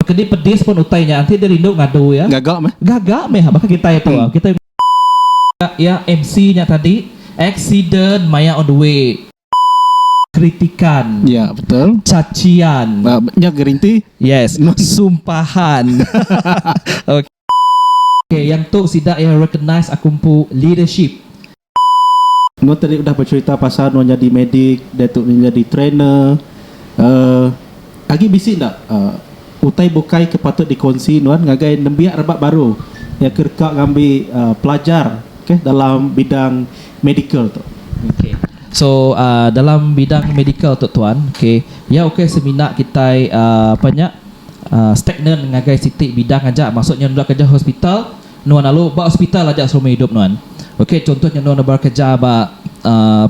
Kedi pedis pun utai nya enti dia rindu ngadu iya. Gaga meh. Gaga meh baka kitai tu. Kitai mega iya MC nya tadi accident maya on the way. Kritikan. Ya betul. Cacian. Nya gerinti. Yes. Sumpahan. Ok. Okay yang tu sida iya recognize aku empu leadership. Nuan tadi udah becerita pasal nuan nyadi medik diatu nuan nyadi trainer uhh agi bisi enda uhh utai bukai ke patut dikonsi nuan ngagai nembiak rebak baru iya ke deka ngambi uhh pelajar ke dalam bidang medical tu. Okay so uhh dalam bidang medical tu tuan okay iya ukai semina kitai uhh apa nya. Stagnan ngagai siti bidang aja maksud nya nulak kereja hospital nuan lalu ba hospital aja selama idup nuan ok contoh nya nuan enda bala kereja ba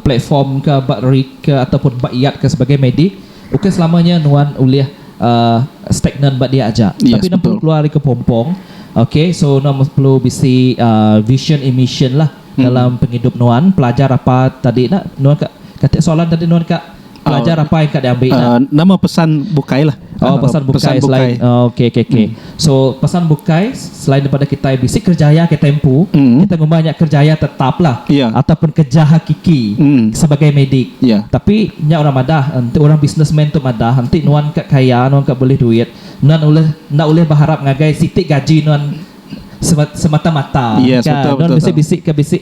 platform ka ba rig ka atau pun ba yard ka sebagai medik ukai selama nya nuan ulih stagnan ba dia aja tapi nuan perlu keluar ari kepompong ok so nuan perlu bisi vision and mission lah dalam pengidup nuan pelajar apa tadi nuan ka katik soalan tadi nuan ka pelajar oh. apai ka diambil uh, nama pesan bukai lah oh pesan bukai, pesan bukai. selain oh, okey okey okey hmm. so pesan bukai selain daripada kita bisi kerjaya kita empu hmm. kita ngumanya kerjaya tetap lah yeah. ataupun kerja hakiki hmm. sebagai medik yeah. tapi nya orang madah nanti orang businessman tu madah nanti nuan kat kaya nuan kat boleh duit nuan boleh nak boleh berharap ngagai sitik gaji nuan semata-mata yes, kan betul, betul, betul. bisik ke bisik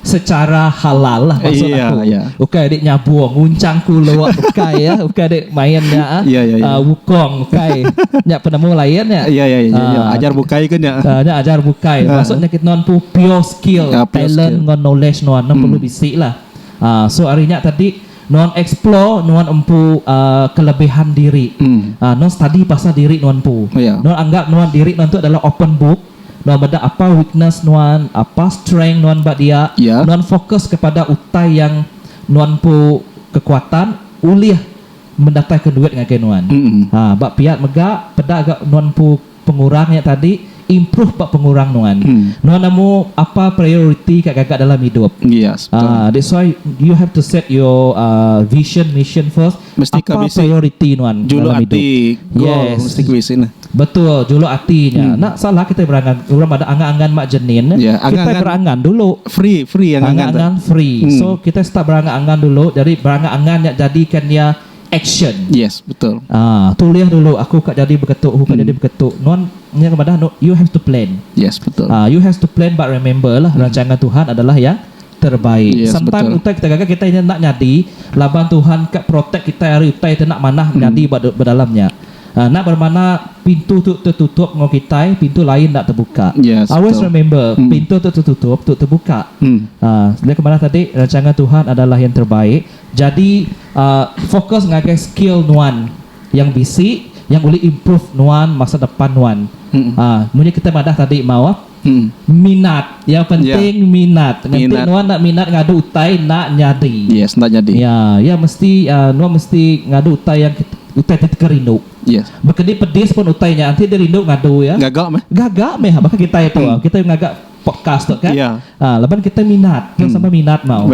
Secara halal lah maksud aku. Ukai dik nyabung, nguncang kulu ukai ya, ukai dik main nya ah wukong ukai. Nya penemu lain nya. Ah ajar bukai ke nya. Ah nya ajar bukai. Maksud nya kitu nuan pu pure skill, talent enggau knowledge nuan ne perlu bisi lah. Ah so ari nya tadi nuan explore nuan empu ah kelebihan diri. Ah nuan study pasal diri nuan empu. Nuan anggap nuan diri nuan tu adalah open book. Nuan meda apa weakness nuan, apa strength nuan ba dia, Ya. nuan fokus kepada utai yang nuan empu kekuatan ulih mendataika duit ngagai nuan. Mm-mm. Ha, ba pia mega peda ga nuan empu pengurang nya tadi, improve ba pengurang nuan. Mm. Nuan nemu apa priority ka gaga dalam idup. Yes, betul. Ah, that's why you have to set your ah vision, mission first. Apa prioriti nuan dalam idup? Yes. Betul, juluk ati nya. Enda salah kitai berangan. Orang bada angan-angan mak jenin, kitai berangan dulu. Angan-angan free. So, kitai start berangan-angan dulu. Jadi, berangan-angan nya jadikan iya action. Haa, tulih dulu aku ka jadi beketu, aku ka jadi beketu. Nuan nya madah, you have to plan. Haa, you have to plan but remember lah, rancangan Tuhan adalah yang. terbaik yes, sampai betul. utai kita gaga kita ini nak nyadi laban Tuhan ke protect kita hari utai tu nak manah hmm. nyadi ba dalamnya uh, nak bermana pintu tu tertutup ngau kita pintu lain nak terbuka yes, always betul. remember hmm. pintu tu tertutup tu terbuka hmm. uh, dia kemana tadi rancangan Tuhan adalah yang terbaik jadi uh, fokus ngagai skill nuan yang bisi yang boleh improve nuan masa depan nuan hmm. uh, kita madah tadi mau Minat ya penting minat nganti nuan enda minat ngadu utai enda nyadi ya ya mesti nuan mesti ngadu utai yang utai ti teka rindu baka di pedis pun utai nya enti di rindu ngadu ya gaga meh baka kitai tu kitai ngaga podcast tu kan laban kitai minat tau sama minat tau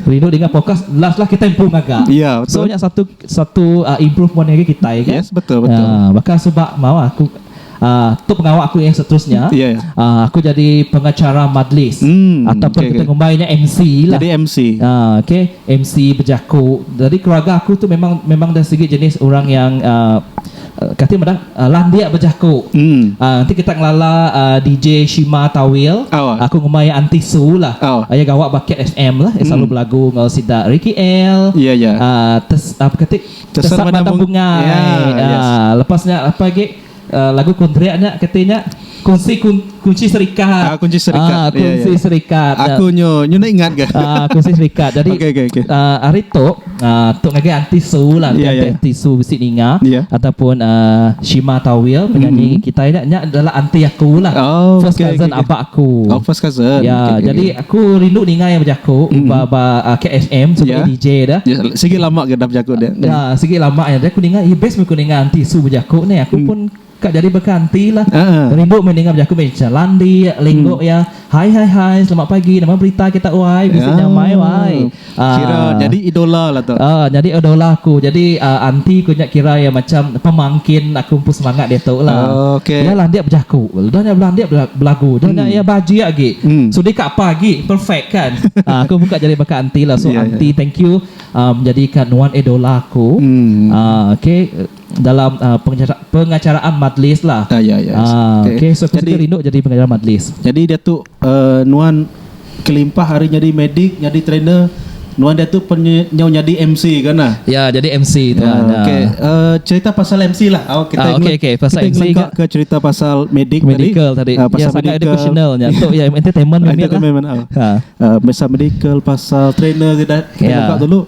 rindu denga podcast last last kitai empu ngaga so nya satu satu improvement agi kitai kan baka suba maoh aku. Tu pengawa aku yang seterusnya aku jadi pengacara majlis ataupun kita ngumbai nya MC lah okay MC bejaku jadi keluarga aku tu memang memang dari segi jenis orang yang kati meda landik bejaku enti kita ngelala DJ shima tawil aku ngumbai iya aunty su lah iya gawa ba kit FM lah iya selalu belagu enggau sida ricky el tess apa kati Kesat batang bungai. Yeah. Yes. Uh, lepas nya apa lagi? Uh, lagu country nya katanya kunci kun, kunci serikat. Ah, kunci serikat. Ah, kunci yeah, yeah. serikat. Aku nyo nyo nak ingat ke? Ah, kunci serikat. Jadi okay, okay, okay. Uh, ah, hari tu uh, tu ngaji anti su lah, yeah, yeah. anti su bisi ninga yeah. ataupun uh, Shima Tawil penyanyi mm-hmm. kita nya nya adalah anti aku lah. Oh, first okay, cousin okay, abak aku. Oh, first cousin. Ya, yeah, okay, jadi okay. Ku rindu ninga iya bejaku ba ba KSM sebagai DJ dah. Sigi lama ke enda bejaku dia. Dah sigi lama iya dah ku ninga iya best meh ku ninga enti su bejaku ni aku pun ka jadi baka enti lah. Rindu meh ninga bejaku meh cha landik, linggok iya. Hai hai hai selamat pagi nama berita kita wai bisi nyamai wai. Kira nyadi idola la tu. Aa nyadi idola aku. Jadi aa anti ku nya kira iya macham pemangkin aku empu semangat diatu la. Iya landik bejaku, udah nya belandik belagu, udah nya iya bajik agi. Sudi ka apa agi, perfect kan. Aa aku pun ka jadi baka anti la. So anti thank you aa menjadika nuan idola aku. Aa okey dalam aa pengacara pengacaraan majlis la. Aa okey so aku sentiasa rindu jadi pengacara majlis. Jadi diatu Nuan kelimpah ari nyadi medik, nyadi trainer, nuan diatu pen nyau nyadi MC ka nah. Ya jadi MC tuan. Ya okey cerita pasal MC lah au kita ngelengka ke cerita pasal medik tadi. Medical tadi ya sangat educational nya tu ya entertainment mimit lah. Pasal medical pasal trainer kita ngelengka dulu.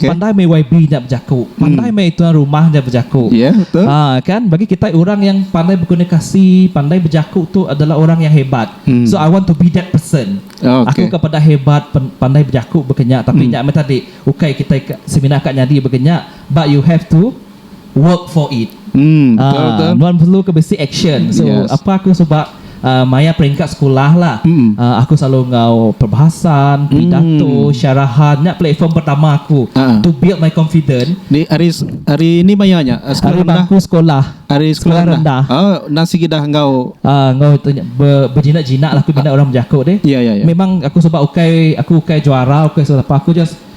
Pandai meh YB nya bejaku pandai meh tuan rumah nya bejaku kan bagi kitai orang yang pandai berkomunikasi pandai bejaku tu adalah orang yang hebat so I want to be that person aku ka peda hebat pandai bejaku baka nya tapi nya meh tadi ukai kitai semina ka nyadi baka nya but you have to work for it aa nuan perlu ke bisi action so apai aku suba maya peringkat sekulah lah aku selalu enggau perbahasan pidato syarahan nya platform pertama aku to build my confident nya ari bangku sekolah sekolah rendah enggau tu nya bejinak-jinak aku bina orang bejaku ti memang aku suba ukai aku ukai juara ukai selalu apai aku just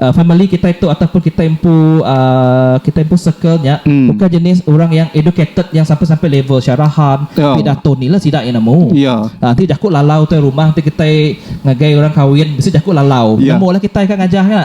Famili kitai tu ataupun kitai empu kitai empu circle nya bukai jenis orang yang educated yang sampai sampai level syarahan ti dato ni lah sida yang nemu. Enti jaku lalau tu rumah enti kitai ngagai orang kawin bisi jaku lalau nemu lah kitai ka ngajah nya.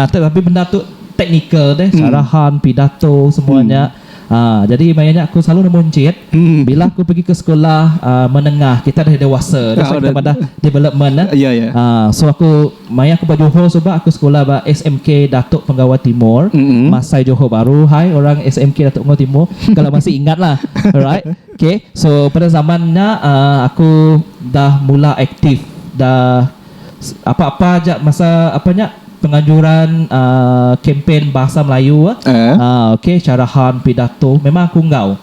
Tetapi benda tu technical deh syarahan pidato semua nya. Haa jadi maya nya aku selalu nemu enchit bila aku pegi ke sekula aa menengah kita dah dewasa dah selalu kita madah development eh aa so aku maya aku ba Johor suba aku sekula ba SMK Datuk Penggawa Timur masai Johor Bahru hai orang SMK Datuk Penggawa Timur kalo masih ingat lah alright okay so pada zaman nya aa aku dah mula aktif dah Apa-apa aja masa apa nya penganjuran kempen Bahasa Melayu ok syarahan pidato memang aku enggau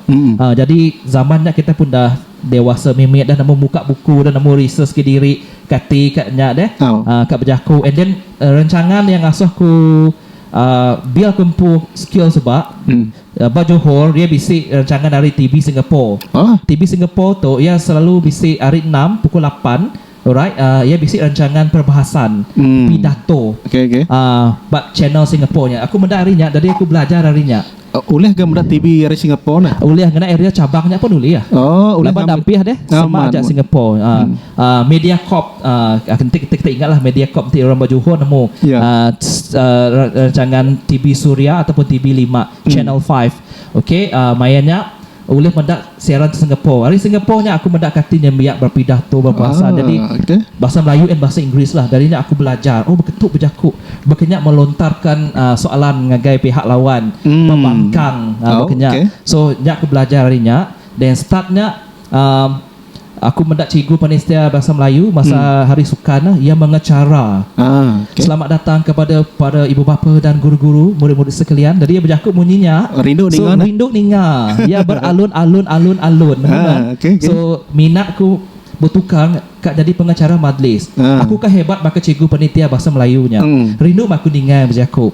jadi zaman nya kita pun dah dewasa mimit dah nemu muka buku dah nemu research ke diri kati ka nya deh ka bejaku and then rencangan yang ngasuh ku bil ku empu skill suba ba Johor iya bisi rancangan ari TV Singapore TV Singapore tu iya selalu bisi ari enam pukul lapan Alright uh, iya bisi rancangan perbahasan hmm. pidato okay, okay. Uh, bab channel Singapore nya. Aku meda hari nya jadi aku belajar hari nya. Uh, ulih ke meda TV dari Singapore nah? Ulih kena area cabang nya pun ulih ya. Oh, ulih Laban dampih deh ah, sama aja Singapore. Uh, hmm. uh, media Corp uh, kita, kita, kita ingatlah Media Corp nanti orang baju Johor nemu yeah. uh, uh, rancangan TV Suria ataupun TV 5 hmm. Channel 5. Okey, uh, mainnya Ulih meda siaran ti Singapore. Ari Singapore nya aku meda kati nyembiak berpidah tu berbahasa jadi bahasa Melayu and bahasa Inggeris lah. Dari nya aku belajar oh beketu bejaku, baka nya melontarkan soalan ngagai pihak lawan, bebangkang baka nya. So nya aku belajar ari nya then start nya Aku meda cikgu penitia Bahasa Melayu masa Hari Sukan iya mengecara selamat datang kepada para ibu bapa dan guru-guru, murid-murid sekalian. Jadi iya bejaku munyi nya. So rindu ninga iya beralun alun alun alun menu nya. So minat ku betukar ka jadi pengecara majlis. Aku ka hebat baka cikgu penitia Bahasa Melayu nya. Rindu mah aku ninga iya bejaku.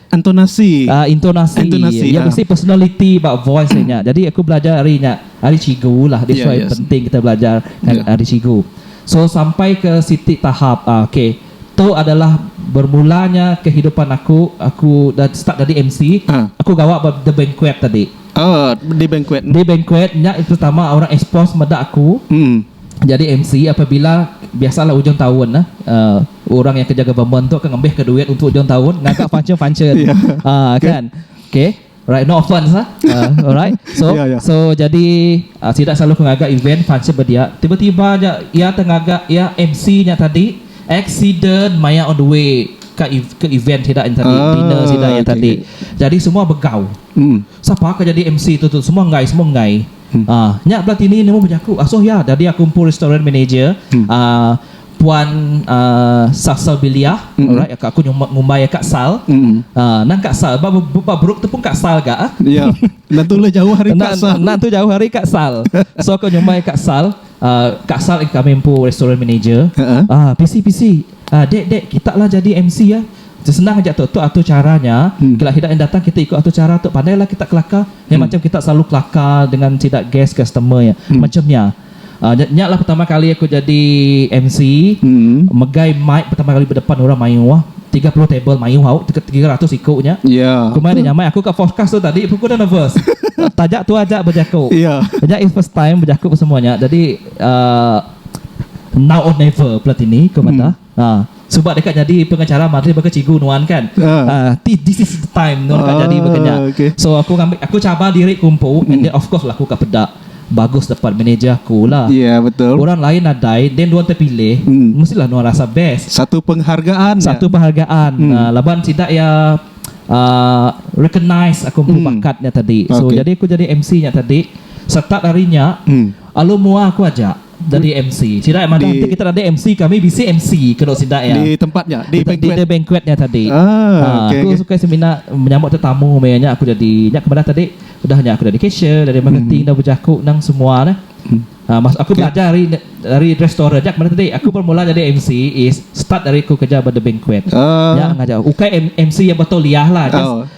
Entonasi. Ah intonasi. Entonasi, Iya ah. bisi personaliti ba voice iya nya. Jadi aku belajar ari nya, ari cikgu lah. That's Ya, why yes. penting kita belajar Ya. ngan ari cikgu. So sampai ke siti tahap ah okey. Tu adalah bermula nya kehidupan aku, aku dah start jadi MC. Ah. Aku gawa ba The Banquet tadi. Oh, di banquet. Di Banquet nya pertama orang expose meda aku Mm. jadi MC apabila biasalah ujung taun lah. Ah Orang yang kejaga government tu ke ngambihka duit untuk ujung tahun ngaga function function uhh kan okay alright no offence ah uhh alright so so jadi sida selalu ke ngaga event function bedia tiba tiba aja iya te ngaga iya MC nya tadi accident maya on the way ka ke event sida nya tadi dinner sida nya tadi jadi semua begau sapa ke jadi MC tu tu semua enggai semua enggai. Aaa nya bla tini nemu bejaku asoh iya dadi aku empu restoran manager aaa puan aaa Sasal Biliah alright ka aku nyuma ngumbai iya ka sal aaa endang ka sal ba ba beruk tepung ka sal ga ah iya enda tu ulih jauh ari ka sal enda tu jauh ari ka sal so aku nyumbai ka sal aaa ka sal kami empu restoran manager aaa pisi pisi aaa dek dek kita lah jadi MC ah. Sesenang aja tu, tu atur chara nya, kila sida yang datang kita ikut atur chara tu, pandai lah kita kelaka, yang macam kita selalu kelaka dengan sida guest customer nya, macam nya. Uh, nya, nya lah pertama kali aku jadi MC, megai mic pertama kali bedepan orang mayuh, 30 table mayuh au, 300 iku nya. Yeah. Aku mai dah nyamai, aku ka forecast tu tadi, aku dah nervous. Taja tu aja bejaku. Yeah. Nya is first time bejaku semua nya, jadi uh, now or never pelatini, aku madah. Haa suba deka nyadi pengacara mari baka cikgu nuan kan haa ti this is the time nuan ka nyadi baka nya so aku ngambi aku cabar diri ku empu and then of course lah aku ka peda bagus dapat manager aku lah orang lain nadai then nuan tepilih mesti lah nuan rasa best satu penghargaan haa laban sida iya aa recognise aku empu bakat nya tadi so jadi aku jadi MC nya tadi start ari nya alu mua aku aja. Jadi MC. Sida madah enti kita ada MC kami bisi MC kenu sida iya. Di tempat nya, di banquet. Di banquet nya tadi. Ah, okay, aku okay. suka semina menyambut tetamu meh nya aku jadi. Nya kepada tadi udah nya aku jadi cashier, dari marketing, hmm. dah berjaku nang semua dah. Hmm. Ah, mas aku okay. belajar dari dari restoran nya kepada tadi. Aku bermula jadi MC is start dari aku kerja pada banquet. Uh. Ah. Nya ngajar. Ukai MC yang betul liah lah. Just, oh.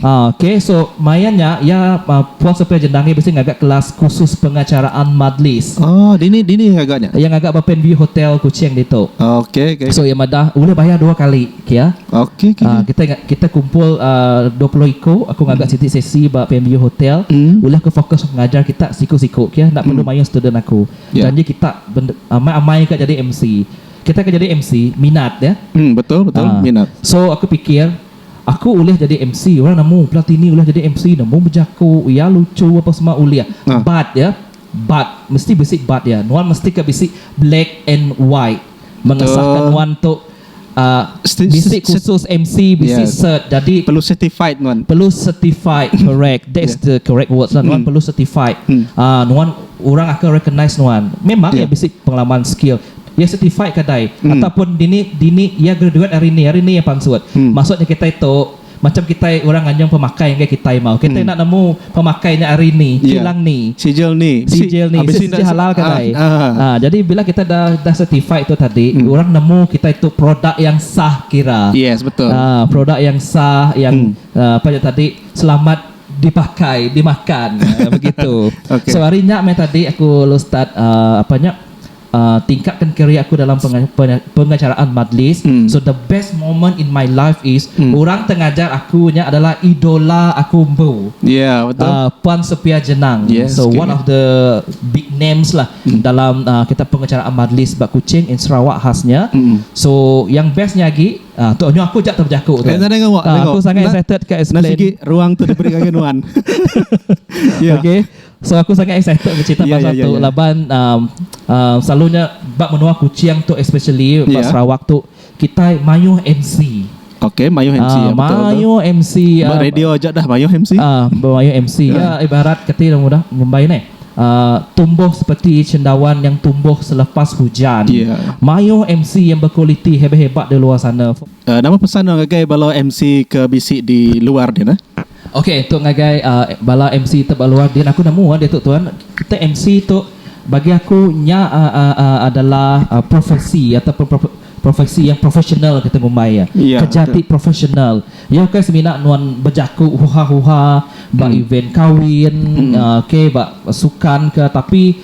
Okey so maya nya iya Puan Sophia Jendangi bisi ngaga kelas kursus pengacaraan madlis. Oh dini dini iya ngaga nya? Iya ngaga ba Panview Hotel Kuching ditu. Okey okey. So iya madah ulih bayar dua kali ke iya. Okey okey. Kita kita kumpul dua puluh iku aku ngaga siti sesi ba Panview Hotel ulih aku fokus ngajar kita siku siku ke iya enda perlu mayuh student aku. Janji kita amai amai ka jadi MC. Kita ke jadi MC minat iya. Betul betul minat. So aku pikir. Aku ulih jadi MC orang nemu pela tini ulih jadi MC nemu bejaku iya lucu apa semua ulih but ya but mesti bisi but iya nuan mesti ka bisi black and white mengesahka nuan tu uhh bisi khusus MC bisi cert jadi perlu certified correct that's the correct words lah nuan perlu certified uhh nuan orang akan recognize nuan memang iya bisi pengalaman skill Iya certified ke dai ataupun dini dini iya graduate ari ni ari ni iya pansut. Maksud nya kitai tu macam kitai orang nganyung pemakai enggai kitai mau. Kitai enda nemu pemakai nya ari ni, kilang ni. Sijil ni. Sijil ni. Bisi sijil halal ke dai. Ha jadi bila kita da da certified tu tadi orang nemu kitai tu produk yang sah kira. Ha produk yang sah yang apa nya tadi selamat dipakai, dimakan. Ha begitu. So ari nya meh tadi aku lalu start apa nya tingkatkan career aku dalam pengajaraan majlis so the best moment in my life is orang teh ngajar aku nya adalah idola aku empu Puan Sofia Jenang so one of the big names lah dalam kita pengajaraan majlis ba Kuching in Sarawak khas nya so yang best nya agi tu nyu aku aja bejaku tu aku sangat excited ka explain okay So aku sangat excited beceritak pasal tu laban selalu nya ba menua kuching tu especially ba sarawak tu kitai mayuh MC Okay mayuh MC ya betul tu mayuh MC ba radio aja dah mayuh MC mayuh MC ya ibarat kati orang udah ngumbai neh tumbuh seperti cendawan yang tumbuh selepas hujan mayuh MC yang berkualiti hebat hebat di luar sana nama pesan orang ngagai bala MC ke bisi di luar deh nah. Ok tu ngagai bala MC tebak luar din aku nemu ande tu tuan kita MC tu bagi aku nya adalah profesi ataupun profesi yang profesional kita ngumbai iya kerja ti profesional iya ukai semina nuan bejaku huha huha ba event kawin ok ba sukan ka tapi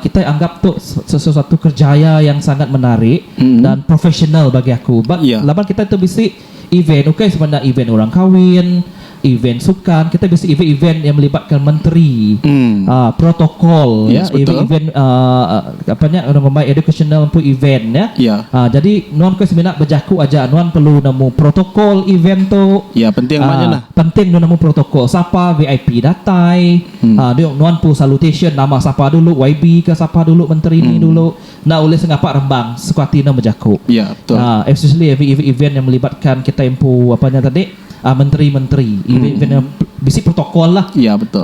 kitai anggap tu sesuatu kerjaya yang sangat menarik dan profesional bagi aku ba laban kitai tu bisi Event ukai semina event orang kawin, event sukan, kitai bisi event-event yang melibatkan menteri, um protokol ya, event-event um apa nya orang ngumbai educational pun event ya. Um jadi nuan ukai semina bejaku aja, nuan perlu nemu protokol event tu. Um penting nuan nemu protokol sapa VIP datai, um nuan pu salutation nama sapa dulu, YB ka sapa dulu, menteri ni dulu. Enda ulih sengapa rembang suka ati enda bejaku. Ya, betul. Especially event yang melibatkan kitai empu apa nya tadi menteri-menteri. Event-event yang bisi protokol lah. Ya, betul.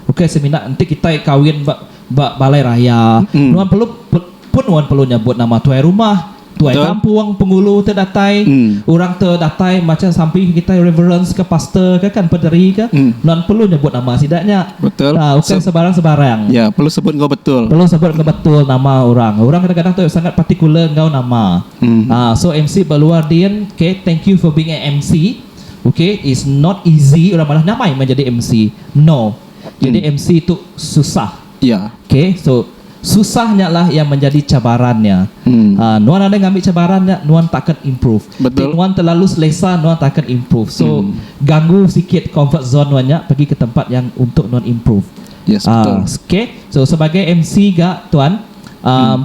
Ukai semina enti kitai kawin ba ba balai raya nuan perlu pun nuan perlu nyebut nama tuai rumah, tuai kampung, pengulu ti datai. Orang tu datai macam sampi kitai reverence ka pastor ka kan, paderi ka. Nuan perlu nyebut nama sida nya. Betul. Tau ukai sebarang-sebarang. Ya, perlu sebut enggau betul. Perlu sebut enggau betul nama orang. Orang kadang-kadang tu sangat particular enggau nama. Uhh so MC ba luar din, okay, thank you for being a MC. Okay, it's not easy orang madah nyamai meh jadi MC. No. Jadi MC tu susah. Ya. Okay, so. Susah nya lah yang menjadi cabaran nya. Uhh nuan ada ngambi cabaran nya nuan takan improve. Ti nuan telalu selesa nuan takan improve. So ganggu sikit comfort zone nuan nya pagi ke tempat yang untuk nuan improve. Uhh okay. So sebagai MC ga tuan uhh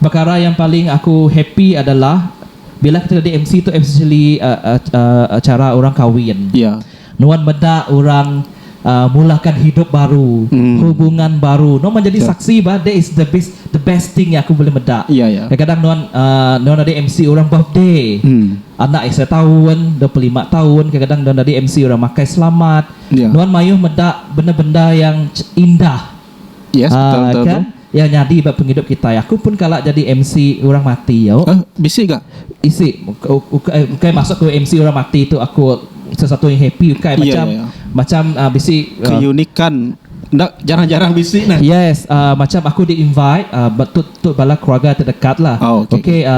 pekara yang paling aku happy adalah. Bila kita nyadi MC tu especially acara orang kawin. Nuan meda orang mulakan hidup baru, hubungan baru. Nuan menjadi saksi bah that is the best the best thing yang aku bulih meda. Kadang-kadang nuan nuan nyadi MC orang birthday. Anak iya setaun, dua puluh lima taun, kadang-kadang nuan nyadi MC orang makai selamat. Nuan mayuh meda benda-benda yang indah. Yes betul betul tu. Kan iya nyadi ba pengidup kitai. Aku pun kala jadi MC orang mati yo. Eh bisi ga? Isi ukai masuk ke MC orang mati tu aku salah satu yang happy ukai macam macam bisi keunikan enda jarang jarang bisi ne. Yes macam aku di invite tu tu bala keluarga terdekatlah. Okay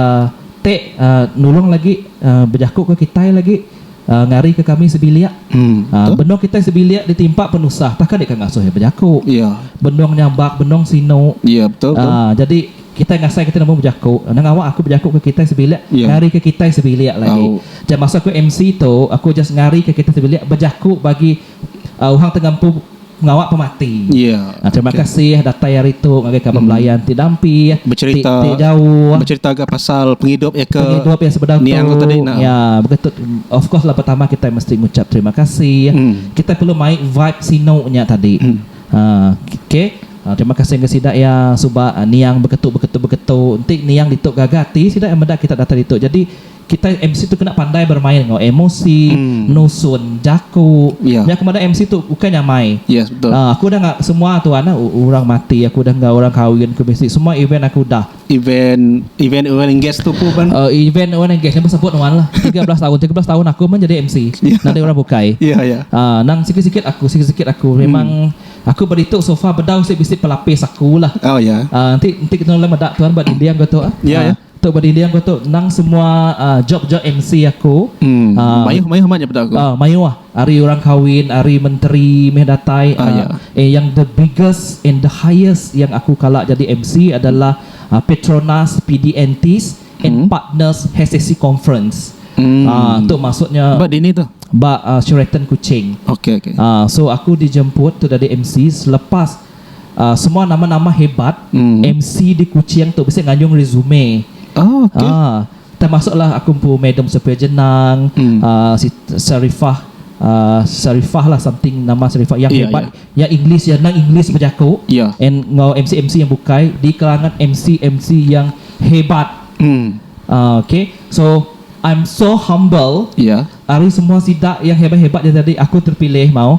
te nulung lagi bejaku ke kitai lagi. ngarika kami sebilik. Benung kitai sebilik ditimpa penusah tah ke deka ngasuh iya bejaku. Benung nyabak, benung sinu. Jadi kitai ngasai kitai nemu bejaku. Endang awak aku bejaku ke kitai sebilik ngarika kitai sebilik lagi. Masa aku MC tu aku just ngarika kitai sebilik bejaku bagi Uhang te ngempu ngawa pemati. Terima kasih datai ari tu ngagai kaban belayan ti dampi ti jauh. Becherita ga pasal pengidup iya ke niang tu tadi nah. Ya baka tu of course lah pertama kitai mesti ngucap terima kasih. Kitai perlu mai vibe sinu nya tadi. Okay terima kasih ngagai sida iya suba niang beketu beketu beketu enti niang ditu gaga ati sida iya meda kita datai ditu. Jadi Kitai MC tu kena pandai bermain enggau emosi, nusun jaku. Nya aku madah MC tu ukai nyamai. Aku udah enggau semua tuan lah, orang mati aku udah enggau, orang kawin aku bisi, semua event aku udah. Event, event oil and gas tu pun pan. Event oil and gas nya pun sebut nuan lah. Tiga belas tahun, tiga belas tahun aku pun jadi MC. Nadai orang bukai. Nang sikit-sikit aku, sikit-sikit aku. Memang aku ba ditu so far bedau sik bisi pelapis aku lah. Enti, enti kita meda tuan ba dinding aku tu. Tu bedinding aku tu endang semua job job MC aku. Mayuh mayuh amat nya peda aku. Mayuh ari orang kawin ari menteri meh datai eh yang the biggest and the highest yang aku kala jadi MC adalah Petronas PDNTs and partners HSC conference tu maksud nya ba dini tu ba Sheraton Kuching so aku dijemput tu jadi MC selepas Semua nama-nama hebat MC di Kuching tu bisi nganyung resume. Termasuklah aku empu Madam Sophia Jenang, Sarifah Sarifah lah something nama Sarifah yang hebat yang English iya nang English bejaku and enggau MC-MC yang bukai di kalangan MC-MC yang hebat. Okay so I'm so humble ari semua sida yang hebat-hebat yang tadi aku terpilih mau.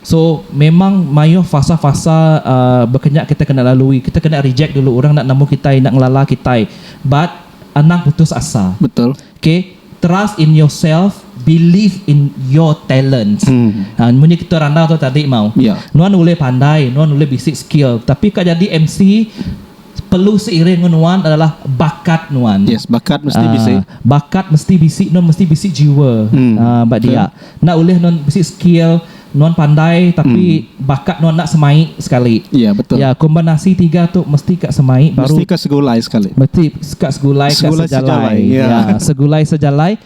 So memang maioh fasa fasa bekenya kita kena lalui kita kena reject dulu orang enda nemu kitai enda ngelala kitai but anang putus asa betul okay trust in yourself believe in your talents mun nya kita randau tadi mau nuan ulih pandai nuan ulih bisi skill tapi ka jadi MC Perlu seiring enggau nuan adalah bakat nuan. Yes, bakat mesti bisi. Aa, bakat mesti bisi, nuan mesti bisi jiwa. Hmm. Aa, ba dia. Betul. Enda ulih nuan bisi skill, nuan pandai tapi hmm. bakat nuan enda semai sekali. Ya, betul. Ya, kombinasi tiga tu mesti ka semai baru. Mesti ka segulai sekali. Mesti ka segulai, segulai ka sejalai. sejalai. Ya. ya, segulai sejalai.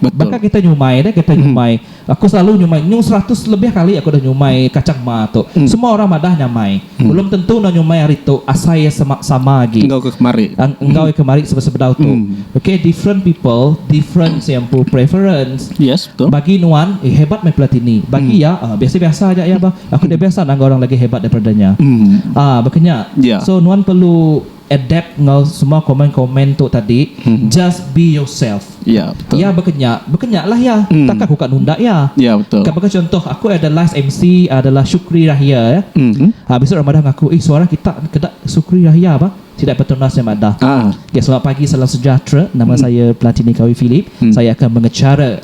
Baka kita nyumai nih, kita nyumai. Aku selalu nyumai nyung seratus lebih kali aku dah nyumai kacang ma tu. Semua orang madah nyamai. Belum tentu endang nyumai hari tu asai iya sama sama agi. Enggau ke kemari. Enggau iya kemari sebedau tu. Okay different people different se empu preference. Yes betul. Bagi nuan eh hebat meh pelatin ni. Bagi iya eh biasa biasa aja iya bah. Aku dah biasa nang enggau orang lagi hebat daripada nya. Ah baka nya. So nuan perlu adapt enggau semua komen-komen tu tadi, just be yourself. Ya, betul. Iya baka nya, baka nya lah iya. Takkan aku ka nunda iya. Ya, betul. Ka baka chuntoh, aku ada last MC adalah Shukri Rahia ya. Ha, besuk orang madah ngaku, eh suara kita keda Shukri Rahia bah. Sida Petronas nya madah. Ya, selamat pagi, salam sejahtera. Nama saya Platini Kawi Philip. Saya akan mengechara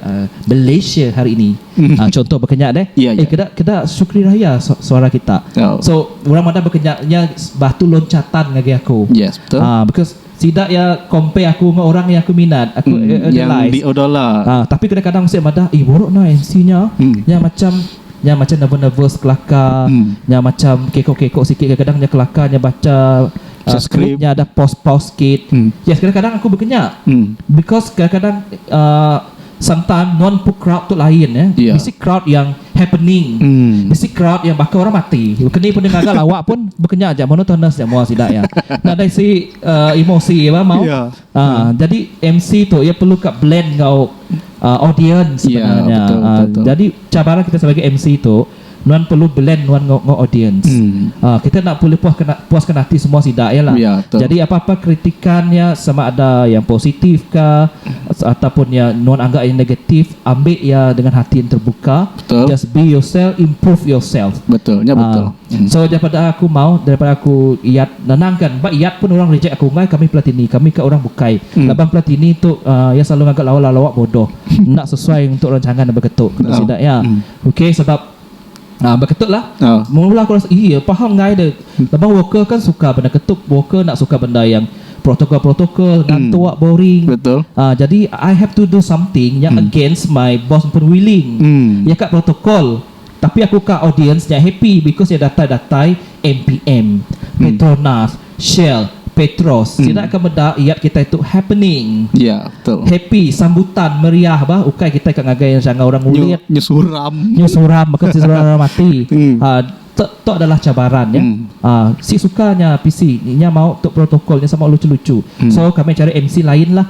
Malaysia hari ini. Uhh contoh baka nya deh. Iya iya. Keda keda Sukri Raya suara kita. Oh. So orang madah baka nya nya batu loncatan ngagai aku. Yes betul. Ahh because sida iya compare aku enggau orang iya aku minat aku uhh uhh yang di odola. Ahh tapi kadang kadang sik madah ih buruk nah MC nya. Nya macham nya macham nervous nervous kelaka nya macham keko keko sikit kadang kadang nya kelaka nya bacha uhh script nya ada pause pause sikit. Yes kadang kadang aku baka nya. Because kadang kadang uhh Sentan nuan pu crowd tu lain ya. Yeah. Bisi crowd yang happening. Mm. Bisi crowd yang baka orang mati. Keni pun dia ngaga lawak pun bekenya aja monotonous aja mua sida ya. Nadai si uh, emosi ya mau. Yeah. Ya. Uh, mm. jadi MC tu ia perlu ka blend ngau uh, audience ya, sebenarnya. Yeah, betul, betul, uh, betul. jadi cabaran kita sebagai MC tu Nuan perlu blend nuan enggau enggau audiens. Aaa kita enda pulih puas kena puas kena ati semua sida iya lah. Jadi apa apa kritikan iya sama ada iya positif ka ataupun iya nuan anggap iya negatif ambi iya dengan hati yang terbuka just be yourself improve yourself. Aaa so daripada aku mau daripada aku iyat ngenang kan ba iyat pun orang reject aku enggai kami pelatini kami ka orang bukai laban pelatini tu aaa iya selalu ngaga lawa lawa bodoh enda sesuai untuk rancangan aba ketu ku sida iya. Ok sebab Aa beketuk lah Aa. Mung ulah aku rasa iya paham ngai de lebuh worker kan suka benda ketup worker enda suka benda yang protokol protokol ngantuk boring Betul. Aa jadi I have to do something yang against my boss pun willing Hmm. iya ka protokol tapi aku ka audience nya happy because iya datai datai MPM petronas Shell, Petros, sida ke meda yat kitai tu happening. Ya, betul. Happy, sambutan, meriah bah, ukai kitai ka ngagai iya jangau orang ngulit. Nyu suram. Nyu suram baka ti suram orang mati. Aa, tu tu adalah cabaran nya. Aa, si suka nya pisi, inya mau tu protokol nya sama luchu-luchu. So, kami cari MC lain lah.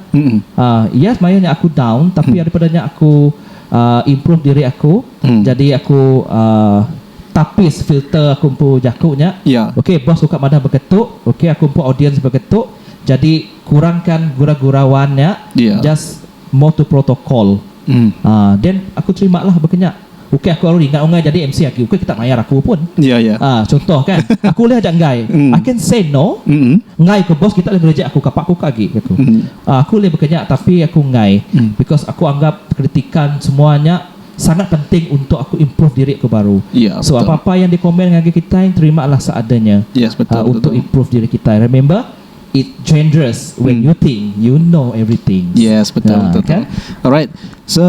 Aa, iya semaya nya aku down tapi ari pada nya aku aa improve diri aku. Jadi aku aa. tapis filter aku empu jaku nya iya. Ok boss uka madah begetu ok aku empu audience begetu jadi kurangkan gura gurauan nya iya. just more to protocol mm. ah then aku terima lah baka nya ok aku aru ringa ungai jadi MC agi ok kita mayar aku pun iya iya ah contoh kan aku ulih aja enggai mm. I can say no mm. enggai ke boss kita ulih ngerejek aku kapa aku ka agi aku mm. ah, aku ulih baka nya tapi aku enggai mm. because aku anggap kritikan semua nya Sangat penting untuk aku improve diri aku baru. Yeah, so apa apa yang di komen ngagai kitai terima lah seadanya. Yes, betul, uh, untuk betul. improve diri kitai. Remember, it dangerous when hmm. you think you know everything. Yes, betul, uh, betul, kan? betul. Alright. So,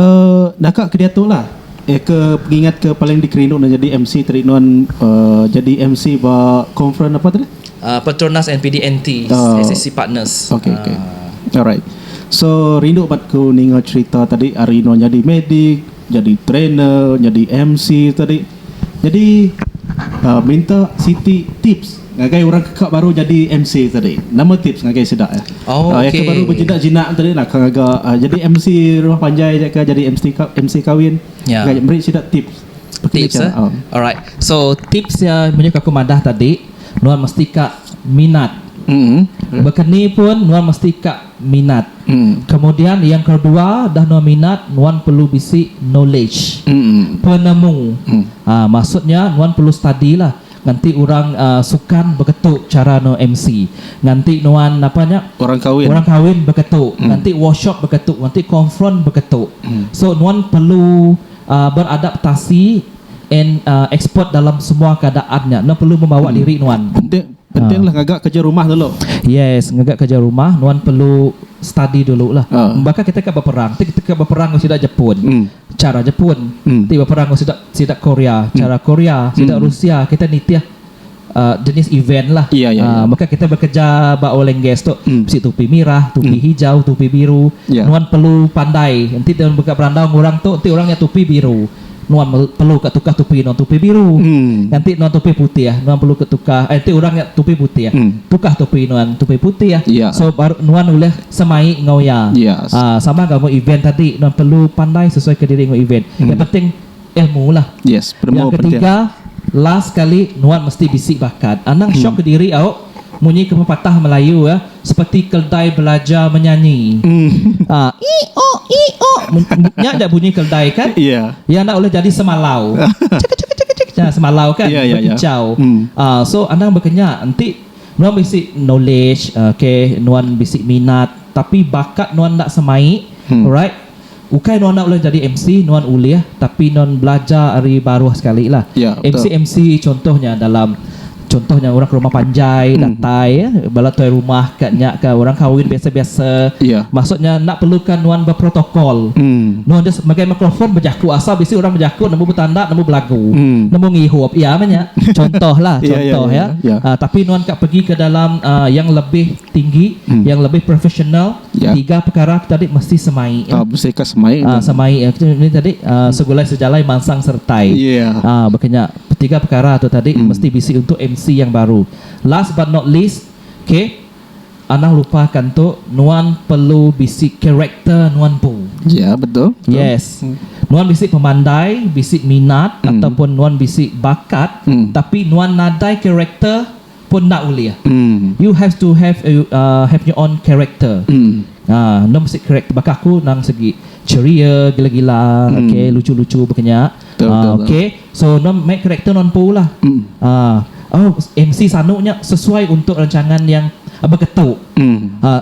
naka ke dia tu lah. Eh, ke pengingat ke paling dikerindu nak jadi MC tadi nuan uh, jadi MC ba conference apa tadi? Uh, Petronas NPD NT, uh, SSC Partners. Okay, okay. Uh, Alright. So rindu bat ku ninga cerita tadi ari nuan nyadi medik, nyadi trainer, nyadi MC tadi. Nyadi uhh minta siti tips ngagai orang ke ka baru nyadi MC tadi. Nama tips ngagai sida eh? Oh Iya ke baru okey. bejinak-jinak tadi naka ngaga nyadi MC rumah panjai aja ka nyadi MC MC kawin. Nya. Meri sida tips. Tips eh. Alright. So tips iya munyi ke aku madah tadi, nuan mesti ka minat. Mm-hmm. Baka ni pun nuan mesti ka minat. Mm. Kemudian yang kedua, dah nuan minat, nuan perlu bisi knowledge. Mm. Penemu. Mm. Ha, maksudnya nuan perlu study lah. Nganti orang uh, sukan beketu cara no MC. Nganti nuan apa nya? Orang kawin. Orang kawin beketu. Mm. Nganti workshop beketu, nganti konfront beketu. Mm. So nuan perlu Beradaptasi and expert dalam semua keadaan nya nuan perlu membawa diri nuan. Penting penting lah ngaga kerja rumah dulu. Yes, ngaga kerja rumah nuan perlu study dulu lah. Baka kita ka beperang ti kita ka beperang enggau sida Jepun, chara Jepun, ti beperang enggau sida sida Korea, chara Korea, sida Rusia kita nitih jenis event lah iya iya maka kita bekerja ba oil and gas tu bisi tupi mirah tupi hijau tupi biru nuan perlu pandai enti tuan mega berandau enggau orang tu ti orang nya tupi biru nuan perlu ka tukar tupi nuan tupi biru enti nuan tupi putih nuan perlu ka tukar eh enti orang nya tupi putih tukar tupi nuan tupi putih so baru nuan ulih semai enggau iya sama enggau event tadi nuan perlu pandai sesuai ka diri enggau event yang penting ilmu lah. Yes, penemu Yang ketiga last sekali nuan mesti bisi bakat. Anang syok ke diri au munyi ke pepatah Melayu ya, seperti keldai belajar menyanyi. Ha, iok iok nya ja bunyi keldai kan. Yeah. Ya enda ulih jadi semalau. Cekik cekik cekik cekik nya semalau kan yeah, yeah, ya. bekicau. Yeah. Hmm. Ha, so anang bekenya enti nuan bisi knowledge, okay, nuan bisi minat tapi bakat nuan enda semai, hmm. alright, Ukai nuan enda ulih nyadi MC, nuan ulih tapi nuan belajar ari baruh sekali lah. Ya, betul. MC MC contoh nya dalam contoh nya orang ke rumah panjai Hmm. datai eh, bala tuai rumah ka nya ka orang kahwin biasa-biasa. Ya. Maksud nya enda perluka nuan beprotokol. Hmm. Nuan just megai mikrofon bejaku asal bisi orang bejaku nemu betanda nemu belagu. Hmm. Nemu ngihup iya meh nya. Contoh lah, Ya, ya, contoh ya, ya. ya. Ah, tapi nuan ka pegi ke dalam ah, yang lebih tinggi, Hmm. yang lebih profesional Tiga pekara tu tadi mesti semai ya. Ah mesti ka semai. Ah semai ya kita ni tadi ah segulai sejalai mansang sertai. Ah baka nya tiga pekara tu tadi mesti bisi untuk MC yang baru. Last but not least okay anang lupa ka ento nuan perlu bisi character nuan empu. Yes nuan bisi pemandai bisi minat ataupun nuan bisi bakat tapi nuan nadai character. pun enda ulih. You have to have a have your own character. Enda mesti character baka aku nang segi ceria gila-gila okay lucu-lucu baka nya okay so enda meh character enda empu lah. Oh MC sanu nya sesuai untuk rancangan yang beketu.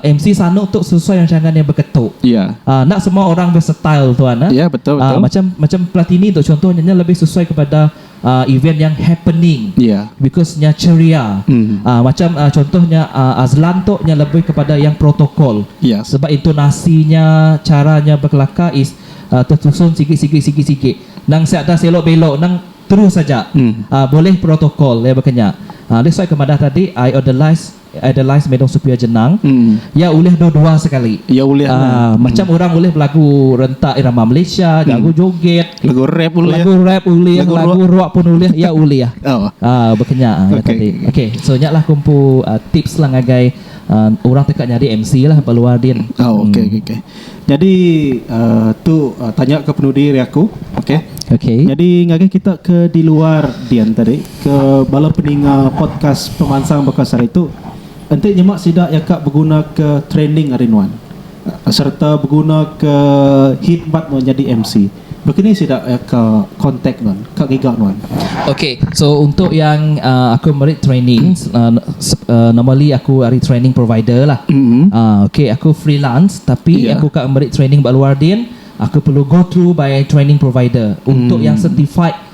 MC sanu tu sesuai rancangan yang beketu. Enda semua orang be style tuan eh. Macam macam platini tu contoh nya lebih sesuai kepada event yang happening yeah. because nya ceria mm. uh, macam uh, contohnya uh, Azlan tu nya lebih kepada yang protokol yeah. sebab intonasinya caranya berkelakar is uh, tersusun sikit-sikit sikit-sikit nang siap dah selok belok nang terus saja mm. uh, boleh protokol ya berkenya uh, that's why kemadah tadi I on the last Adelice Medong Supir Jenang, iya ulih dua dua sekali. Iya ulih ah, lah. Macam orang ulih belagu rentak irama Malaysia, jago joget. Lagu rap ulih. Lagu rap ulih, lagu, lagu rock. rock pun ulih, iya ulih. oh. Ah, baka nya ah, okay. tadi. Okey, so nya lah ku empu uh, tips lah ngagai uh, orang teka nyadi MC lah ba luar din. Oh, okey hmm. okey. Nyadi tu tanya ke penudi ari aku. Okey. Okey. Nyadi ngagai kita ke di luar din tadi ke bala peninga podcast pemansang baka sehari tu enti nyema sida iya ka beguna ke training ari nuan sereta beguna ke khidmat nuan nyadi MC. Baka ni sida ka contact nuan ka ngiga nuan. Okay so untuk yang aku meri training normally aku ari training provider lah okay aku freelance tapi aku ka meri training ba luar din aku perlu go through by training provider untuk yang certified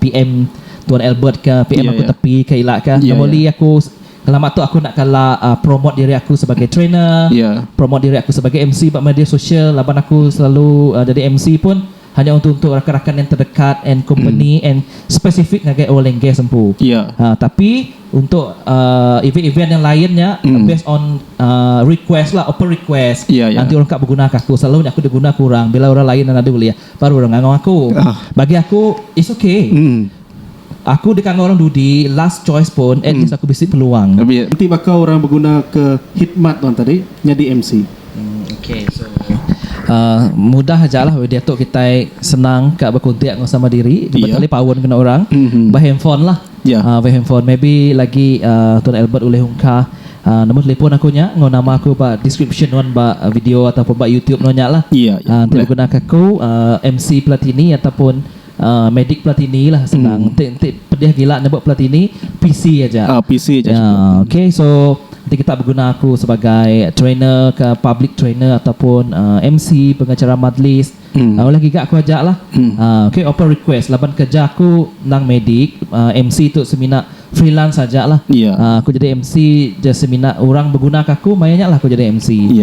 PM Tuan Albert ka PM aku tepi ka ila ka nama oli aku ngelama tu aku nak kala promote diri aku sebagai trainer promote diri aku sebagai MC ba media sosial laban aku selalu jadi MC pun hanya untuk untuk rakan-rakan yang terdekat and company and spesifik ngagai oil and gas empu tapi untuk event-event yang lain nya based on request lah open request nanti orang ka begunaka aku selalu nya aku diguna ke orang bila orang lain enda ulih. Baru orang ngangau aku. Bagi aku, it's okay. Aku deka ngau orang dudi, last choice pun, at least aku bisi peluang. Enti baka orang beguna ke hikmat nuan tadi nyadi MC? Okay, so mudah aja lah weh diatu kitai senang ka bekontak enggau sama diri, betele paun kena orang, behandphone lah. Ya. Via handphone. Maybe lagi Tuan Albert ulih ungka nombor telefon aku nya enggau nama aku ba description nuan ba video ataupun ba YouTube nuan nya lah. Ya, ya. Enti ulih gunaka aku MC Platini ataupun Medic Platini lah senang. Enti enti pedih gila nyebut Platini, PC aja. Ah, PC aja Ya, cukup. okey. So, enti kita beguna aku sebagai trainer ka public trainer ataupun MC pengacara majlis, Ulih giga aku aja lah. Okay open request laban kerja aku endang medik MC tu semina freelance aja lah. Aku jadi MC je semina orang beguna ke aku maya nya lah aku jadi MC.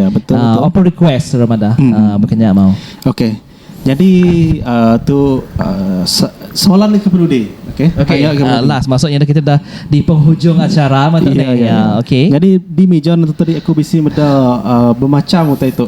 Open request orang madah baka nya mau. Okay jadi tu soalan nya ke penudi okay. Okay last maksud nya kita dah di penghujung acara meh tu deh. Okay. Jadi di meja tu tadi aku bisi meda bemacham utai tu.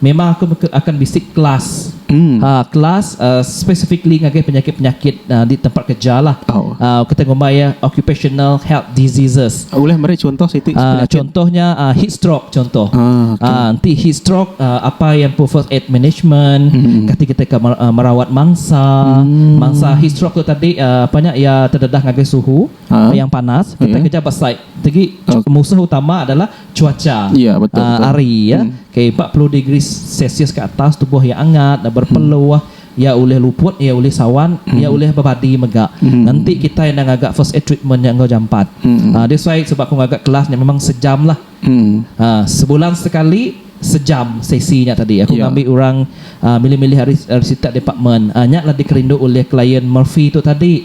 Memang aku mega akan bisi kelas uhh kelas uhh specifically ngagai penyakit-penyakit uhh di tempat kerja lah. Uhh kita ngumbai iya occupational health diseases. Ulih meri chuntoh siti uhh chuntoh nya uhh heat stroke chuntoh. Uhh enti heat stroke uhh apai iya empu first aid management kati kita ka merawat mangsa. Mangsa heat stroke tu tadi uhh apa nya iya tededah ngagai suhu yang panas. Kita kerja ba site tegi musuh utama adalah cuaca hari iya ke empat puluh degree celsius ke atas tubuh iya angat enda berpeluh iya ulih luput iya ulih sawan iya ulih bebadi mega enti kita enda ngaga first aid treatment nya enggau jampat that's why sebab aku ngaga kelas nya memang sejam lah sebulan sekali sejam sesi nya tadi aku ngambi orang milih-milih ari sitak department nya lah dikerindu oleh client murphy tu tadi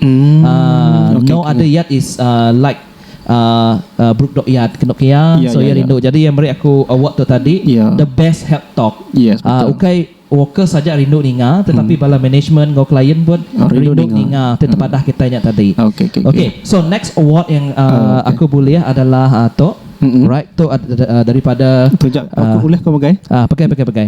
no other yet is like uhh bruk dok yat ke endok iya so iya rindu jadi iya meri aku award tu tadi the best help talk uhh ukai workers aja rindu ninga tetapi bala management enggau client pun rindu ninga ti tepadah kitai nya tadi okay so next award yang uhh aku bulih adalah uhh tu alright tu adalah daripada uhh pegai pegai pegai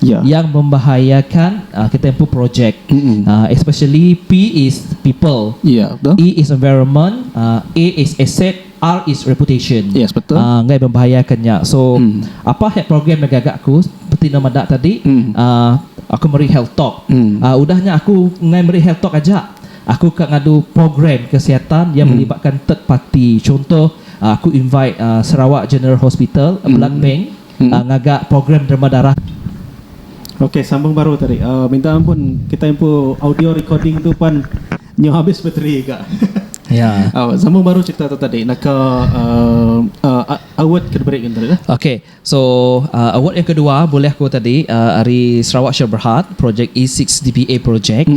yang membahayakan kita empu projek especially p is people e is environment a is asset r is reputation enggai membahayakan nya so apa health program mega ga aku seperti enda meda tadi aku meri health talk udah nya aku enggai meri health talk aja aku ka ngadu program kesihatan yang melibatkan third party chunto aku invite sarawak general hospital blood bank ngaga program derma darah. Ok sambung baru tadi. Minta ampun kitai empu audio recording tu pan nyau habis bateri ga. Sambung baru cerita tu tadi naka award ke diberi tadi lah. Ok so award yang kedua bulih ku tadi ari Sarawak Share Berhad projek E six DBA projek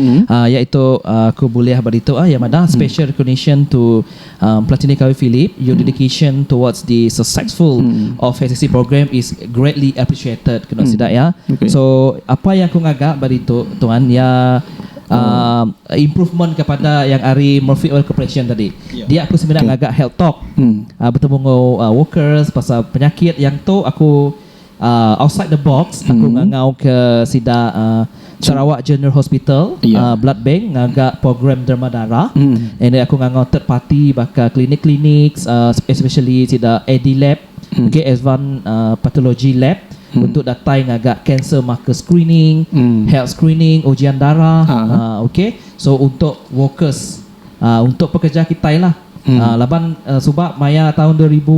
iaitu aku bulih ba ditu iya madah special recognition to Platini Kawi Philip, your dedication towards the successful of HSC program is greatly appreciated kenu sida iya. So apa iya aku ngaga ba ditu tuan iya improvement kepada yang ari Murphy Oil Corporation tadi. Dia aku semina ngaga health talk betemu enggau workers pasal penyakit yang tu aku Outside the box aku ngangauka sida Sarawak General Hospital Blood Bank ngaga program derma darah and then aku ngangau third party baka klinik-klinik especially sida Adilab okay Advanced Pathology Lab untuk datai ngaga cancer marker screening, health screening, ujian darah okay so untuk workers. untuk pekerja kitai lah laban suba maya taun dua ribu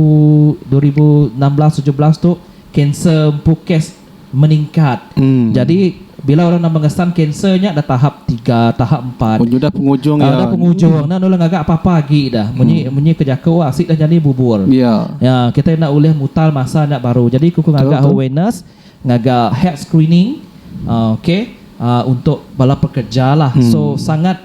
dua ribu enam belas tujuh belas tu kanser empu kes meningkat jadi bila orang nama ngesan kanser nya dah tahap tiga tahap empat dah pengujung enda nulung gaga apa apa agi dah munyi munyi ke jaku asik dah nyadi bubur kitai enda ulih mutar masa nya baru jadi ku ngaga awareness. Ngaga health screening ok untuk bala pekerja lah so sangat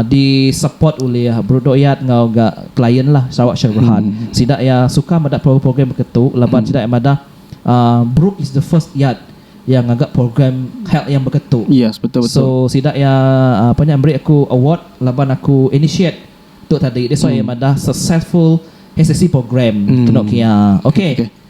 di support ulih Brudo Yat enggau ga client lah Sarawak Shell Berhad sida iya suka meda program-program baka tu laban sida iya madah Brooke is the first yat iya ngaga program health yang baka tu so sida iya apa nya meri aku award laban aku initiate tu tadi that's why iya madah successful HSC program kenu kiya ok.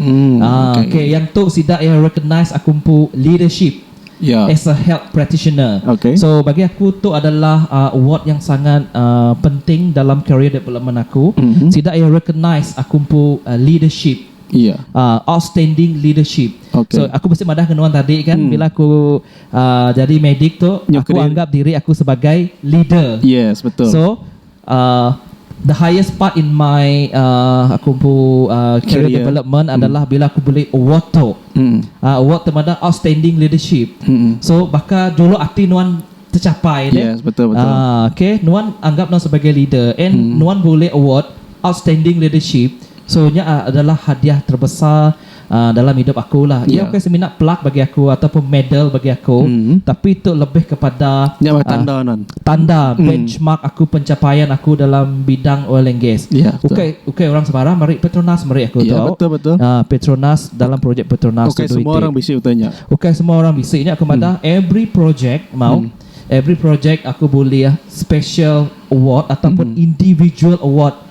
Aaa okay yang tu sida iya recognise aku empu leadership as a health practitioner. So bagi aku tu adalah aaa award yang sangat aaa penting dalam career development aku. Sida iya recognise aku empu leadership aaa outstanding leadership. So aku mesti madah enggau nuan tadi kan bila aku aaa jadi medik tu aku anggap diri aku sebagai leader. So. Uhh the highest part in my uhh aku empu uhh career development adalah bila aku bulih award tu. Uhh award ti madah outstanding leadership. So baka juluk ati nuan tecapai deh. Uhh okay nuan anggap nuan sebagai leader and nuan bulih award outstanding leadership so nya adalah hadiah terbesar. dalam idup aku lah iya ukai semina plak bagi aku atau pun medal bagi aku tapi tu lebih kepada tanda benchmark aku pencapaian aku dalam bidang oil and gas ukai ukai orang sembarang meri petronas meri aku tu petronas dalam projek petronas tu duit ukai semua orang bisi nya aku madah every projek mau every projek aku bulih special award atau pun individual award.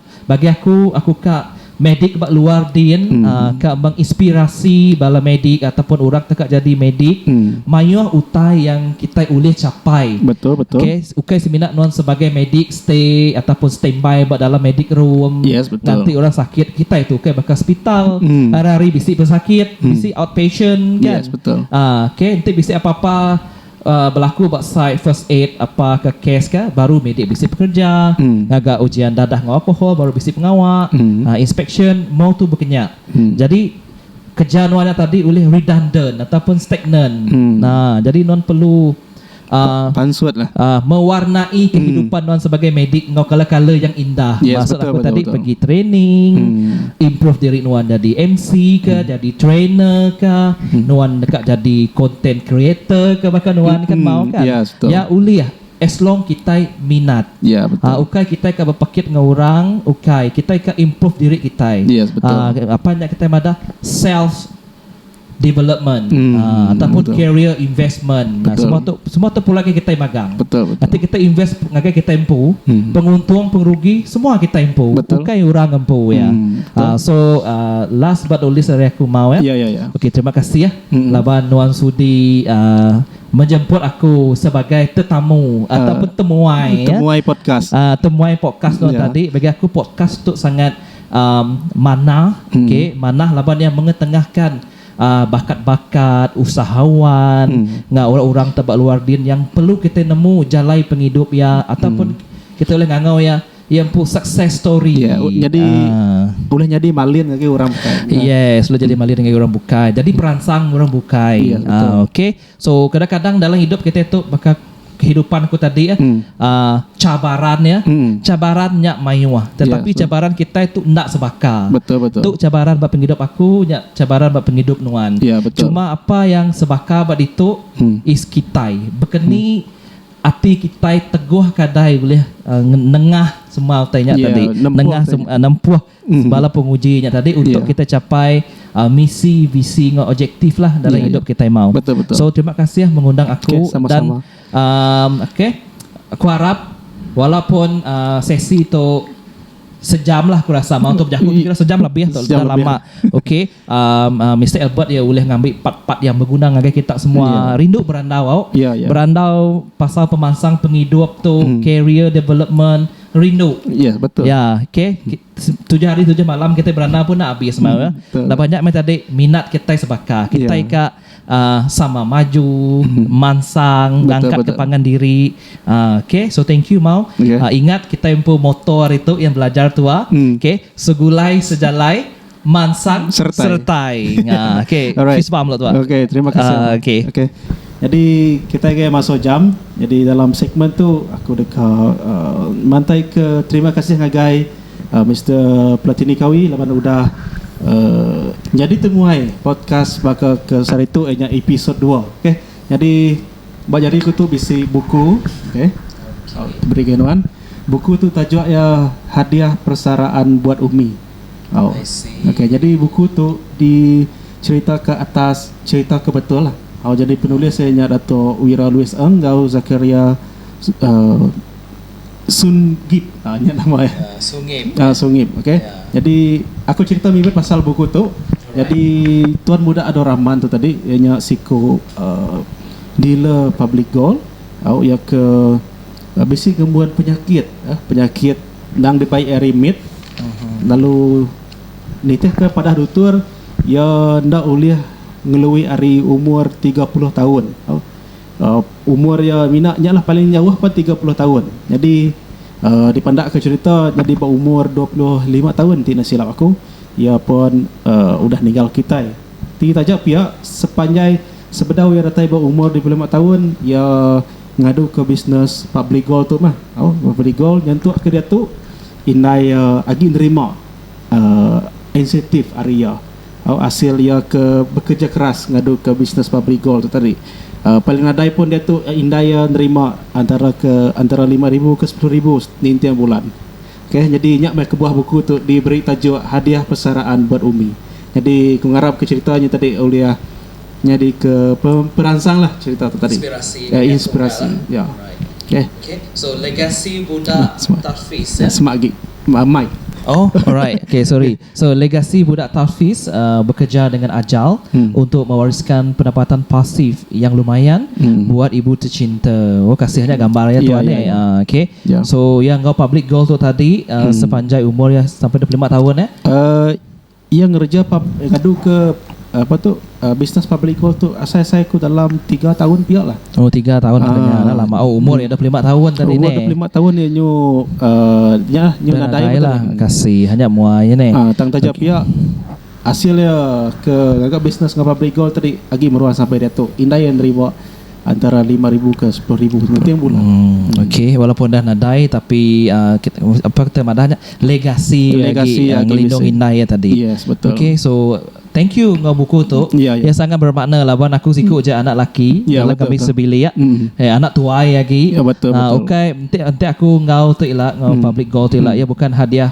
Bagi aku, aku ka medik ba luar din ka menginspirasi bala medik ataupun orang teka jadi medik mayuh utai yang kitai ulih capai. Okay, ukai semina nuan sebagai medik stay ataupun standby ba dalam medik room nganti orang sakit. Kitai tu ukai baka sepital hari-hari bisi pesakit, bisi outpatient kan. Okay, enti bisi apa-apa. Belaku ba site first aid apa ke kes ke baru medi bisi pekereja, ngaga ujian dadah enggau alkohol baru bisi pengawa, inspeksyen, mong tu bekenya. Jadi keja nuan nya tadi ulih redundant ataupun stagnant. Jadi nuan perlu mewarnai kehidupan nuan sebagai medik enggau kala-kala yang indah. Maksud aku tadi pegi training, improve diri nuan jadi MC ka, jadi trainer ka. Nuan deka jadi content creator ke baka nuan kan mau kan. Nya ulih as long kitai minat. Ukai kitai ka bepekit enggau orang ukai kitai ka improve diri kitai. Apan nya kitai madah self development ataupun career investment semua tu semua tu pulai ngagai kitai magang. Enti kitai invest ngagai kitai empu penguntung pengerugi semua kitai empu ukai orang empu iya. Ah so ah last but not least ari aku mau eh. Ya ya ya. Okey terima kasih eh laban nuan sudi ah menjemput aku sebagai tetamu ataupun temuai eh. Temuai podcast. Ah temuai podcast nuan tadi bagi aku podcast tu sangat ah manah okey manah laban iya mengetengahkan ah bakat-bakat usahawan enggau orang-orang ti ba luar din yang perlu kitai nemu jalai pengidup iya ataupun kitai ulih ngangau iya Iya empu success story. Ya, yeah, jadi uh, boleh jadi malin ngagai orang bukai. Yes, boleh jadi malin ngagai orang bukai. Jadi peransang orang bukai. Ya, yeah, betul. Uh, okay. So, kadang-kadang dalam hidup kita tu bakal kehidupan ku tadi ya hmm. uh, cabaran ya hmm. cabaran nya mayuh ya, tetapi yeah, cabaran kita itu ndak sebaka betul betul tu cabaran ba penghidup aku nya cabaran ba penghidup nuan yeah, betul. cuma apa yang sebaka ba ditu hmm. is kitai bekeni hmm. Ati kitai teguh kadai ulih nengah sema utai nya tadi, nengah nempuh bala penguji nya tadi untuk kitai chapai misi, visi enggau objektiflah dalam idup kitai mau. So terima kasih mengundang aku dan okay aku harap walaupun sesi tu sejamlah aku rasa mau tu bejaku tu kira sejam lebih tu dah lama okay. Mister Albert iya ulih ngambi part-part yang beguna ngagai kita semua rindu berandau au berandau pasal pemansang pengidup tu career development rindu iya ok tujuh hari tujuh malam kitai berandau pun enda abis meh laban nya meh tadi minat kitai sebaka kitai ka sama maju mansang ngangkat ka pangan diri ok so thank you mau ingat kitai empu motto hari tu yang belajar tua ok segulai sejalai Mansang Sertai. Sertai. Nga. Okey, Alright. kisah paham lah tu. Okey, terima kasih. Ah, Abang. okey. Okey. Jadi kita ke masuk jam. Jadi dalam segmen tu aku deka uh, mantai ke terima kasih ngagai uh, Mr. Platini Kawi laban udah uh, jadi temuai podcast baka ke saritu ianya episod 2. Okey. Jadi ba jari aku tu bisi buku, okey. Beri ke nuan. Buku tu tajuk ia Hadiah Persaraan Buat Umi. Oh. Okey, jadi buku tu dicheritaka atas cherita ke betul lah. Oh, jadi penulis iya nya Dato Wira Louis Eng enggau Zakaria uh, Sungip. Ah, nya nama iya. Uh, Sungip. Ah, uh, Sungip. Okey. Yeah. Jadi aku cerita mimit pasal buku tu. Alright. Jadi Tuan Muda Ador Rahman tu tadi iya nya siku uh, dealer public gold. Oh, iya ke uh, bisi gembuan penyakit, uh, penyakit endang dipai iya remit lalu nitihka padah dutur iya enda ulih ngelui ari umur tiga puluh taun tau umur iya mina nyalah paling jauh pun tiga puluh taun nyadi um dipandakka cherita nyadi ba umur dua puluh lima taun ti enda silap aku iya pun um udah ninggal kitai ti taja pia sepanjai sebedau iya datai ba umur dua puluh lima taun iya Ngadu ke bisnes Public Gold tu mah. Au, Public Gold nyentuk ke diatu indai agi nerima insentif ari iya. Au, asil iya ke bekereja keras ngadu ke bisnes Public Gold tu tadi. Paling nadai pun diatu indai iya nerima antara ke antara lima ribu ke sepuluh ribu ninting bulan. Ok, nyadi nya meh kebuah buku tu diberi tajuk Hadiah Persaraan Buat Umi. Nyadi aku ngarap ke cherita nya tadi ulih nyadika peransang lah cerita tu tadi ya inspirasi ya okay so legasi budak tafis ya semak agi mic oh alright okay sorry so legasi budak tafis bekeja dengan ajal untuk mewariskan pendapatan pasif yang lumayan buat ibu tecinta oh kasih nya gambar iya tuan eh okay so iya enggau public goal tu tadi sepanjai umur iya sampai dua puluh lima taun eh. Iya ngereja ngadu ke apa tu business public goal tu asai asai ku dalam tiga taun pia lah. Oh tiga taun uh, nya lah lama. Oh umur iya dua puluh lima taun tadi ni. Umur dua puluh lima taun ni nyu uh, nya lah, nyu nadai, nadai lah. Kasih hanya muai ni. Uh, tang taja okay. pia hasil dia ke ngaga business ngapa public goal tadi agi meruan sampai dia tu. Indai yang nerima antara lima ribu ke sepuluh ribu pengeting pula. Hmm, okey walaupun dah nadai tapi uh, kita, apa kita madahnya legasi, legasi lagi, uh, ngelindung indai ya tadi. Yes, betul. Okey so thank you ngau buku tu. Ya, ya. ya sangat bermakna lah wan aku siku hmm. je anak laki ya, dalam kami sebilik. Ya. Hmm. Eh, anak tuai lagi. Ya, betul, uh, betul. Okey, enti enti aku ngau tu ila ngau hmm. public goal tu ila hmm. ya bukan hadiah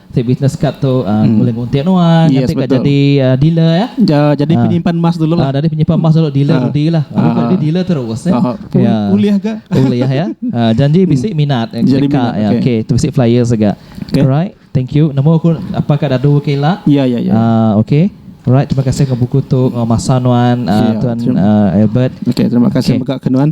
Ti business card tu boleh nguntik nuan nganti ka jadi dealer ya. Jadi penyimpan emas dulu lah. Jadi penyimpan emas dulu dealer rudi lah. Jadi dealer terus ya. Ulih ga. Ulih ya. Janji bisi minat deka ya. Okey tu bisi flyer sega. Alright. Thank you. Nemu aku apa ka dadu ke ila. Ya ya ya. Okey. Alright terima kasih enggau buku tu enggau masa nuan Tuan Albert. Okey terima kasih mega ke nuan.